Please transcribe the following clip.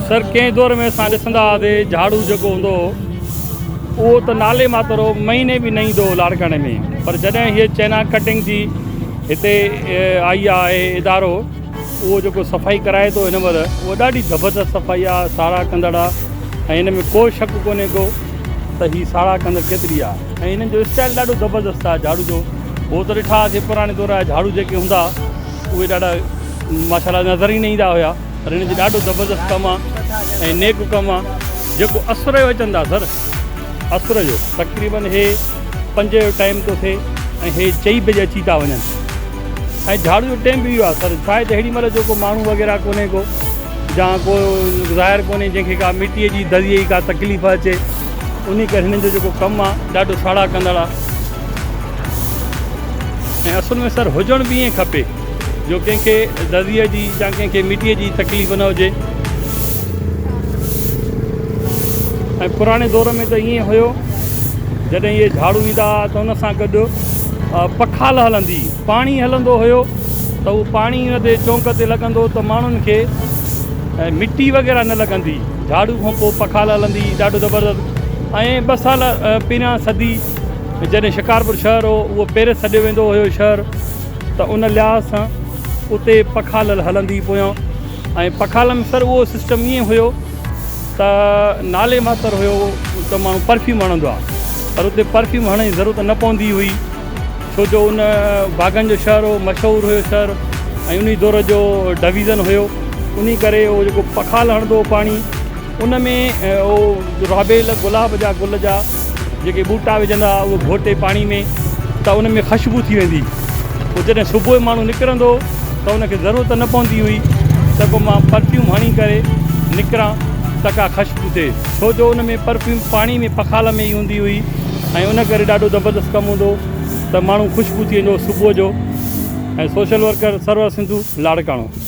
سر ڪنهن دور ۾ اسان ڏسندا هئاسي جهاڙو جيڪو هوندو هو اهو ته نالي ماتر هو مهيني به نه ايندو هو لاڙڪاڻي ۾ پر جڏهن هيء چئنا ڪٽنگ جي هتي آئي آهي ادارو اهو جيڪو صفائي ڪرائي ٿو هن مهل اهو ڏاڍي زبردست صفائي آهي ساراهه ڪندڙ آهي ۽ هن ۾ ڪو شڪ ڪونهي ڪو ته هي ساراهه ڪندڙ ڪيتري آهي ۽ هنن جو اسٽائل ڏاڍو زبردست آهي جهاڙو جو هو ته ڏٺا هئاسي پراڻي دور جا جهاڙو جيڪي هوندا اهي ڏاڍا ماشاء الله نظر ئي نه ايندا هيا پر هن جي ڏاڍو زبردست ڪم آ ۽ نيڪ ڪم آ جيڪو اسر جو اچن ٿا سر اسر جو تقريبن هي پنج جو ٽائيم ٿو ٿئي ۽ هي چئي بجي اچي ٿا وڃن ۽ جھاڙو جو ٽائيم به اهو آ سر شايد هيڙي مھل جو ڪو ماڻھو وغيره ڪونهي ڪو جا ڪو ظاهر ڪونهي جنهن کي ڪا مٽيء جي دريء جي ڪا تڪليف اچي انهي ڪري هنن جو جيڪو ڪم آ ڏاڍو ساڙا ڪندڙ آ ۽ اصل ۾ سر هجڻ به ائين کپي جو ڪنهن کي دزيء جي يا ڪنهن کي مٽيء جي تڪليف نه هجي ۽ پراڻي دور ۾ ته ائين هيو جڏهن اهي جهاڙو ايندا ها ته ان سان گڏ پکال هلندي پاڻي هلندو هيو ته اهو پاڻي ان تي چونڪ تي لڳندو ته ماڻهن کي مٽي وغيره نه لڳندي جهاڙو کان پوء پکال هلندي ڏاڍو زبردست ۽ ٻه سال پهريان صدي جڏهن شڪارپور شهر هو، اهو پيرس سڏيو ويندو هيو شهر ته ان لحاظ سان اتي پکالل هلندي پويان ۽ پکالم سر اهو سسٽم ائين هيو ته نالي ماتر هيو ته ماڻهو پرفيوم هڻندو آ پر اتي پرفيوم هڻڻ جي ضرورت نه پوندي هئي ڇو جو ان باغن جو شهر هو مشهور هيو شهر ۽ انهي دور جو ڊويزن هيو انهي ڪري اهو جيڪو پکال هڻندو هو پاڻي ان ۾ او رابيل گلاب جا گل جا جيڪي ٻوٽا وجهندا اهو گهوٽي پاڻي ۾ ته ان ۾ خشبو ٿي ويندي پوء جڏهن صبح جو ماڻهو نڪرندو ته ان کي ضرورت نه پوندي هئي ته ڪو مان پرفيوم هڻي ڪري نڪران ته ڪا خشبو ٿئي ڇو جو ان ۾ پرفيوم پاڻي ۾ پخال ۾ ئي هوندي هئي ۽ ان ڪري ڏاڍو زبردست ڪم هوندو ته ماڻهو خوشبو ٿي ويندو صبح جو ۽ سوشل ورڪر سرور سنڌو لاڙڪاڻو.